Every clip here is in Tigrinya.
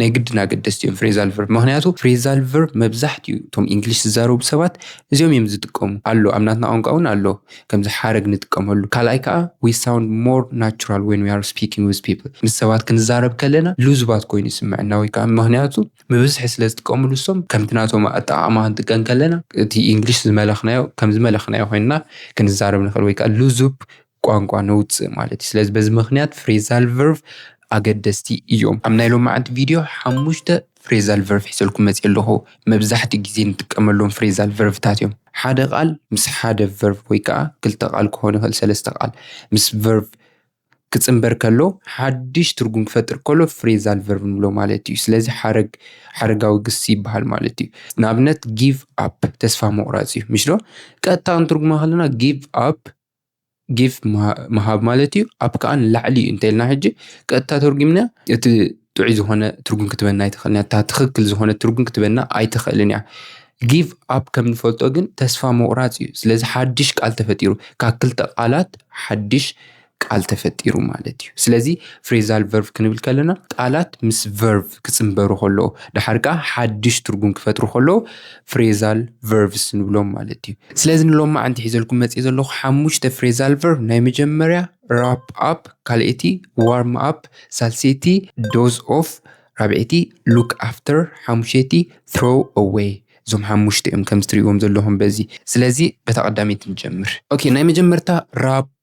ናይ ግድን ኣገደስቲ እዮም ፍሬዛል ቨርብ ምክንያቱ ፍሬዛል ቨርብ መብዛሕትኡ እቶም እንግሊሽ ዝዛረቡ ሰባት እዚኦም እዮም ዝጥቀሙ ኣሎ ኣብ ናትና ቋንቋ እውን ኣሎ ከምዚ ሓረግ ንጥቀመሉ ካልኣይ ከዓ we sound more natural when we are speaking with people ምስ ሰባት ክንዛረብ ከለና ልዙባት ኮይኑ ይስምዐና ወይ ከዓ ምክንያቱ ብብዝሒ ስለ ዝጥቀምሉ እሶም ከምቲ ናቶም ኣጠቃቅማ ክንጥቀም ከለና እቲ እንግሊሽ ዝመለክናዮ ከም ዝመለክናዮ ኮይንና ክንዛረብ ንክእል ወይ ከዓ ልዙብ ቋንቋ ነውጽእ ማለት እዩ። ስለዚ በዚ ምኽንያት ፍሬዛል ቨርቭ ኣገደስቲ እዮም። ኣብ ናይ ሎማዓንቲ ቪድዮ ሓሙሽተ ፍሬዛል ቨርቭ ሒዘልኩም መጺኤ ኣለኹ። መብዛሕትኡ ግዜ ንጥቀመሎም ፍሬዛል ቨርቭታት እዮም። ሓደ ቃል ምስ ሓደ ቨርቭ ወይ ከኣ ክልተ ቃል ክኾን ይኽእል ሰለስተ ቃል ምስ ቨርቭ ክጽንበር ከሎ ሓድሽ ትርጉም ክፈጥር ከሎ ፍሬዛል ቨርቭ ንብሎ ማለት እዩ። ስለዚ ሓረግ ሓረጋዊ ግሲ ይበሃል ማለት እዩ። ንኣብነት ጊቭ ኣፕ ተስፋ ምቑራጽ እዩ። ምሽዶ? ቀጥታ ክንትርጉሞ ከለና ጊቭ ኣፕ ጊፍ ምሃብ ማለት እዩ ኣብ ከዓ ንላዕሊ እዩ እንተይልና ሕጂ ቀጥታ ተርጒምና እቲ ጥዑይ ዝኾነ ትርጉም ክትበና ኣይትኽእልን እታ ትኽክል ዝኾነ ትርጉም ክትበና ኣይትኽእልን እያ። ጊቭ ኣፕ ከም ንፈልጦ ግን ተስፋ ምቑራጽ እዩ። ስለዚ ሓድሽ ቃል ተፈጢሩ ካብ ክልተ ቃላት ሓድሽ ቃል ተፈጢሩ ማለት እዩ። ስለዚ ፍሬዛል ቨርቭ ክንብል ከለና ቃላት ምስ ቨርቭ ክጽንበሩ ከለዉ ድሓር ከኣ ሓድሽ ትርጉም ክፈጥሩ ከለዉ ፍሬዛል ቨርቭስ ንብሎም ማለት እዩ ስለዚ ንሎም መዓንቲ ሒዘልኩም መፅ ዘለኹ ሓሙሽተ ፍሬዛል ቨርቭ ናይ መጀመርያ ራፕ ኣፕ ካልኤቲ ዋርም ኣፕ ሳልሴቲ ዶዝ ኦፍ ራብዔቲ ሉክ ኣፍተር ሓሙሸቲ ትሮ ኣወይ እዞም ሓሙሽተ እዮም ከምዚ ትሪእዎም ዘለኹም በዚ ስለዚ በታ ቀዳመይቲ ንጀምር ኦኬ ናይ መጀመርታ ራፕ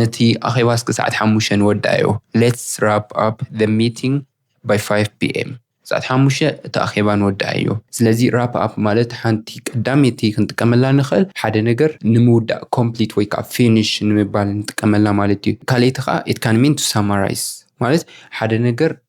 ነቲ ኣኼባ እስከ ሰዓት ሓሙሽተ ንወዳእዮ፣ Let's wrap up the meeting by five PM፣ ሰዓት ሓሙሽተ እቲ ኣኼባ ንወዳእዮ። ስለዚ wrap up ማለት ሓንቲ ቀዳመይቲ ክንጥቀመላ ንኽእል ሓደ ነገር ንምውዳእ complete ወይ ከኣ finish ንምባል ንጥቀመላ ማለት እዩ። ካልኣይቲ ከኣ it can mean to summarize ማለት ሓደ ነገር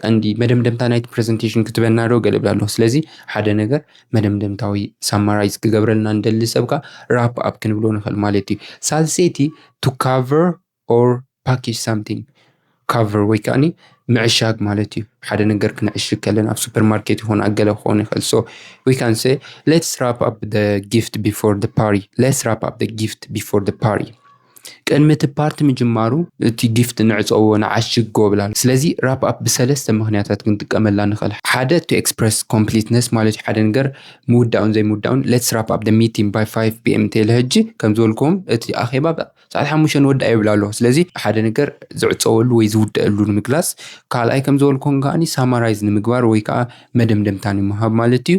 ቀንዲ መደምደምታ ናይቲ ፕሬዘንቴሽን ክትበና ዶ ገለ ብላ ኣለኹ ስለዚ ሓደ ነገር መደምደምታዊ ሳማራይዝ ክገብረልና ንደሊ ሰብካ ራፕ ኣብ ክንብሎ ንኽእል ማለት እዩ ሳልሰይቲ ቱ ካቨር ኦር ፓኬጅ ሳምቲንግ ካቨር ወይ ከዓኒ ምዕሻግ ማለት እዩ ሓደ ነገር ክንዕሽግ ከለና ኣብ ሱፐር ማርኬት ይኹን ኣብ ገለ ክኾን ይኽእል ሶ ዊ ካን ሰ ሌትስ ራፕ ኣብ ደ ጊፍት ቢፎር ደ ፓሪ ሌትስ ራፕ ኣብ ደ ጊፍት ቢፎር ደ ፓሪ ቅድሚ እቲ ፓርቲ ምጅማሩ እቲ ጊፍት ንዕጸዎ ንዓሽግ ጎብላል ስለዚ ራፕ ኣፕ ብሰለስተ ምኽንያታት ክንጥቀመላ ንኽእል ሓደ to express completeness ማለት ሓደ ነገር ምውዳኡን ዘይምውዳኡን let's wrap up the meeting by 5 pm ቴለ ሕጂ ከም ዝበልክዎም እቲ ኣኼባ ሰዓት ሓሙሽተ ንወዳእ ይብል ኣሎ ስለዚ ሓደ ነገር ዝዕጸወሉ ወይ ዝውደኣሉ ንምግላጽ ካልኣይ ከም ዝበልክዎም ከኣ ሳማራይዝ ንምግባር ወይ ከኣ መደምደምታ ንምሃብ ማለት እዩ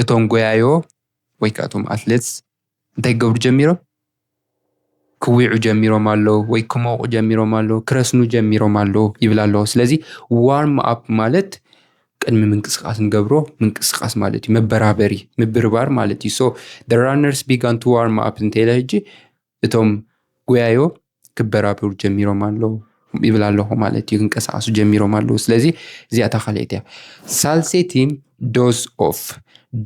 እቶም ጎያዮ ወይ ከኣ እቶም ኣትሌትስ እንታይ ክገብሩ ጀሚሮም ክዊዑ ጀሚሮም ኣለዉ ወይ ክሞቑ ጀሚሮም ኣለዉ ክረስኑ ጀሚሮም ኣለዉ ይብል ኣሎ ስለዚ ዋርም ኣፕ ማለት ቅድሚ ምንቅስቃስ ንገብሮ ምንቅስቃስ ማለት እዩ መበራበሪ ምብርባር ማለት እዩ ሶ ራነርስ ቢጋን ቱ ዋርም ኣፕ እንተኢለ ሕጂ እቶም ጎያዮ ክበራበሩ ጀሚሮም ኣለዉ ይብል ኣለኹ ማለት እዩ። ክንቀሳቀሱ ጀሚሮም ኣለዉ። ስለዚ እዚኣ እታ ካልኤት እያ። ሳልሰይቲ ዶዝ ኦፍ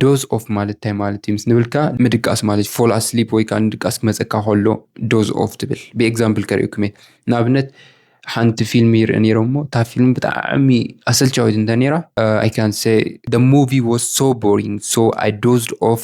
ዶዝ ኦፍ ማለት እንታይ ማለት እዩ ምስ ንብልካ ምድቃስ ማለት ፎል ኣስሊፕ ወይ ከዓ ንድቃስ ክመፀካ ከሎ ዶዝ ኦፍ ትብል ብኤግዛምፕል ከርእየኩም እየ ንኣብነት ሓንቲ ፊልም ይርኢ ነይረ እሞ እታ ፊልም ብጣዕሚ ኣሰልቻዊት እንተ ነይራ ኣይ ካን ሰ ደ ሙቪ ዋስ ሶ ቦሪንግ ሶ ኣይ ዶዝድ ኦፍ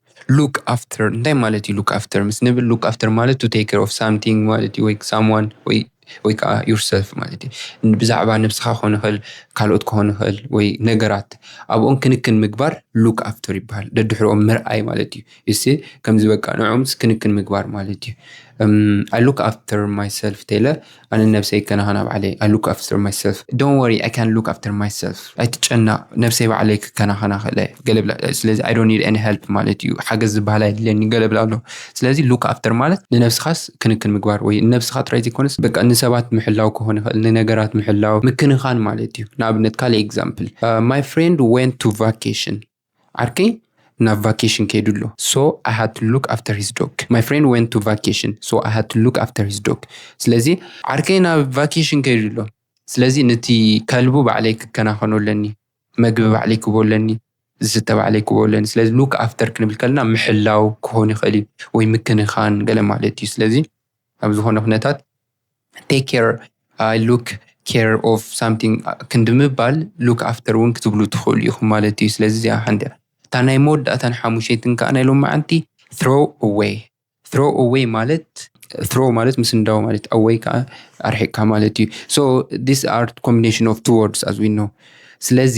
ሉክ ኣፍተር እንታይ ማለት እዩ? ሉክ ኣፍተር ምስ ንብል ሉክ ኣፍተር ማለት ቱ ቴክ ኬር ኦፍ ሳምቲንግ ማለት እዩ ወይ ሳምዋን ወይ ወይ ከዓ ዩር ሰልፍ ማለት እዩ። ብዛዕባ ነብስኻ ክኾን ይኽእል ካልኦት ክኾን ይኽእል ወይ ነገራት ኣብኦም ክንክን ምግባር ሉክ ኣፍተር ይበሃል። ደድሕርኦም ምርኣይ ማለት እዩ። እሲ ከምዚ በቃ ንዕኦምስ ክንክን ምግባር ማለት እዩ። ኣይ ሉክ ኣፍተር ማይ ሰልፍ ቴለ። ኣነ ንነብሰይ ይከናኸና ባዕለይ I look after myself Don't worry I can look after myself ኣይትጨነቕ ነብሰይ ባዕለይ ክከናኸና እኽእል እየ ገለ ብላ ስለዚ I don't need any help ማለት እዩ ሓገዝ ዝበሃል ኣየድልየኒ ገለ ብላ ኣሎ ስለዚ look after ማለት ንነብስኻስ ክንክን ምግባር ወይ ንነብስኻ ጥራይ ዘይኮነስ በቃ ንሰባት ምሕላው ክኾን ይኽእል ንነገራት ምሕላው ምክንኻን ማለት እዩ ንኣብነት ካልእ example My friend went to vacation ዓርከይ ናብ ቫኬሽን ከይዱ ኣሎ so I had to look after his dog my friend went to vacation so I had to look after his dog ስለዚ ዓርከይ ናብ ቫኬሽን ከይዱ ኣሎ ስለዚ ነቲ ከልቡ ባዕለይ ክከናኸኖ ኣለኒ መግቢ ባዕለይ ክቦ ኣለኒ ዝስተ ባዕለይ ክቦ ኣለኒ ስለዚ look after ክንብል ከለና ምሕላው ክኾን ይኽእል እዩ ወይ ምክንኻን ገለ ማለት እዩ ስለዚ ኣብ ዝኾነ ኩነታት ቴክ ኬር ኣይ ሉክ ኬር ኦፍ ሳምቲንግ ክንዲ ምባል ሉክ ኣፍተር እውን ክትብሉ ትኽእሉ ኢኹም ማለት እዩ። ስለዚ እዚኣ ሓንቲ እያ። እታ ናይ መወዳእታን ሓሙሸይትን ከኣ ናይ ሎማዓንቲ throw away throw away ማለት throw ማለት ምስንዳው ማለት away ከኣ ኣርሒቅካ ማለት እዩ። so these are combination of two words as we know ስለዚ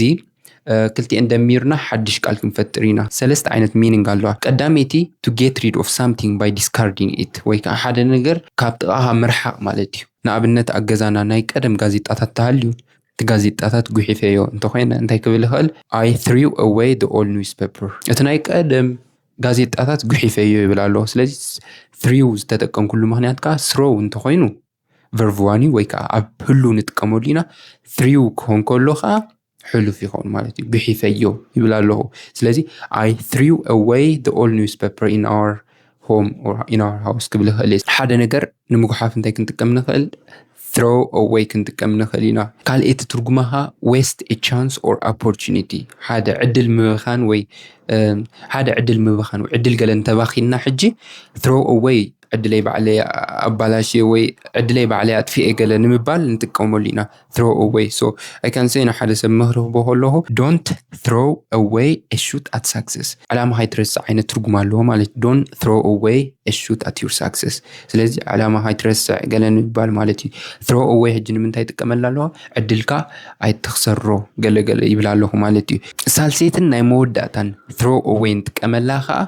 ክልቲኤን ደሚርና ሓድሽ ቃል ክንፈጥር ኢና። ሰለስተ ዓይነት meaning ኣለዋ። ቀዳመይቲ to get rid of something by discarding it ወይ ከኣ ሓደ ነገር ካብ ጥቓኻ ምርሓቕ ማለት እዩ። ንኣብነት ኣብ ገዛና ናይ ቀደም ጋዜጣታት እንተሃልዩ እቲ ጋዜጣታት ጉሒፈዮ እንተኾይነ እንታይ ክብል ይኽእል I threw away the old newspaper እቲ ናይ ቀደም ጋዜጣታት ጉሒፈዮ ይብል ኣሎ። ስለዚ threw ዝተጠቀምኩሉ ምኽንያት ከኣ throw እንተኾይኑ ቨርቭዋኒ ወይ ከዓ ኣብ ህሉ ንጥቀመሉ ኢና ትሪው ክኾን ከሎ ከዓ ሕሉፍ ይኸውን ማለት እዩ ግሒፈዮ ይብል ኣለኹ ስለዚ ኣይ ትሪው ኣወይ ደ ኦል ኒውስ ፔፐር ኢን ኣወር ሆም ኢን ኣወር ሃውስ ክብል ይኽእል እየ ሓደ ነገር ንምጉሓፍ እንታይ ክንጥቀም ንኽእል ትሮ ኣወይ ክንጥቀም ንኽእል ኢና ካልእ እቲ ትርጉማ ከዓ ዌስት ቻንስ ኦር ኦፖርቹኒቲ ሓደ ዕድል ምብኻን ወይ ሓደ ዕድል ምብኻን ወይ ዕድል ገለ እንተባኺንና ሕጂ ትሮ ኣወይ ዕድለይ ባዕለይ ኣባላሽየ ወይ ዕድለይ ባዕለይ ኣጥፊኤ ገለ ንምባል ንጥቀመሉ ኢና throw away so I can say ንሓደ ሰብ ምኽሪ ክህቦ ከለኹ don't throw away a shoot at success ዕላማ ከይትረስዕ ዓይነት ትርጉም ኣለዎ ማለት እዩ don't throw away a shoot at your success ስለዚ ዕላማ ከይትረስዕ ገለ ንምባል ማለት እዩ throw away ሕጂ ንምንታይ ይጥቀመላ ኣለዋ ዕድልካ ኣይትኽሰሮ ገለ ገለ ይብል ኣለኹ ማለት እዩ ሳልሰይትን ናይ መወዳእታን throw away ንጥቀመላ ከዓ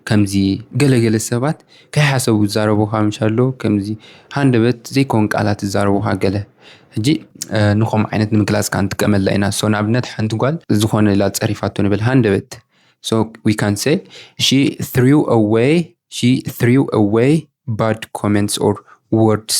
ከምዚ ገለገለ ሰባት ከይሓሰቡ ዝዛረቡኻ ምሻሎ ከምዚ ሃንደበት ዘይኮን ቃላት ዝዛረቡኻ ገለ ሕጂ ንኸምኡ ዓይነት ንምግላጽ ከኣ ንጥቀመላ ኢና ሶ ንኣብነት ሓንቲ ጓል ዝኾነ ኢላ ጸሪፋቶ ንበል ሃንደበት ሶ ዊ ካን ሰይ ሺ ትሪው ኣወይ ሺ ትሪው ኣወይ ባድ ኮመንትስ ኦር ወርድስ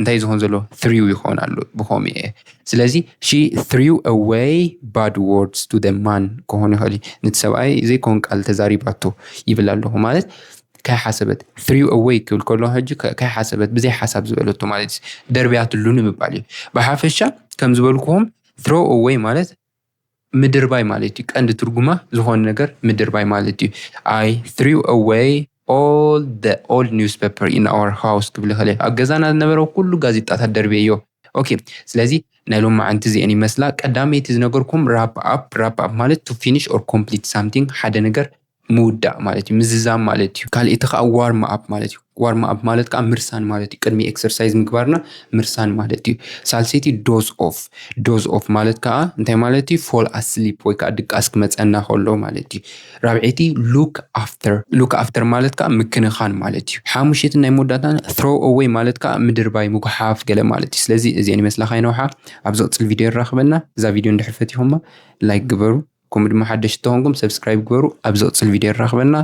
እንታይ ዝኸውን ዘሎ threw ይኸውን ኣሎ ብኸምኡ እየ ስለዚ ሺ threw away bad words to the man ክኾን ይኽእል እዩ ነቲ ሰብኣይ ዘይኮን ቃል ተዛሪባቶ ይብል ኣለኹ ማለት ከይሓሰበት threw away ክብል ከሎ ሕጂ ከይሓሰበት ብዘይ ሓሳብ ዝበለቶ ማለት እዩ ደርብያትሉ ንምባል እዩ ብሓፈሻ ከም ዝበልኩዎም throw away ማለት ምድርባይ ማለት እዩ። ቀንዲ ትርጉማ ዝኾነ ነገር ምድርባይ ማለት እዩ። I threw away all the old newspaper in our house ክብል ይኽእል ኣብ ገዛና ዝነበረ ኩሉ ጋዜጣታት ደርብየዮ። ኦኬ ስለዚ ናይ ሎም መዓንቲ እዚኤን ይመስላ። ቀዳመይቲ ዝነገርኩም ራፕ ኣፕ ራፕ ኣፕ ማለት ቱ ፊኒሽ ኦር ኮምፕሊት ሳምቲንግ ሓደ ነገር ምውዳእ ማለት እዩ፣ ምዝዛም ማለት እዩ። ካልእቲ ከዓ ዋርም ኣፕ ማለት እዩ። ዋርም ኣፕ ማለት ከዓ ምርሳን ማለት እዩ። ቅድሚ ኤክሰርሳይዝ ምግባርና ምርሳን ማለት እዩ። ሳልሰይቲ ዶዝ ኦፍ፣ ዶዝ ኦፍ ማለት ከዓ እንታይ ማለት እዩ? ፎል ኣስሊፕ ወይ ከዓ ድቃስ ክመፀና ከሎ ማለት እዩ። ራብዐይቲ ሉክ ኣፍተር፣ ሉክ ኣፍተር ማለት ከዓ ምክንኻን ማለት እዩ። ሓሙሸይትን ናይ መወዳእታ ትሮ ኣወይ ማለት ከዓ ምድርባይ፣ ምጉሓፍ ገለ ማለት እዩ። ስለዚ እዚኤን ይመስላ ከይነውሓ ኣብ ዝቕፅል ቪድዮ የራኽበና። እዛ ቪድዮ እንድሕር ፈቲኹማ ላይክ ግበሩ ከምኡ ድማ ሓደሽቲ ተኾንኩም ሰብስክራይብ ግበሩ ኣብ ዝቕፅል ቪድዮ የራኽበና።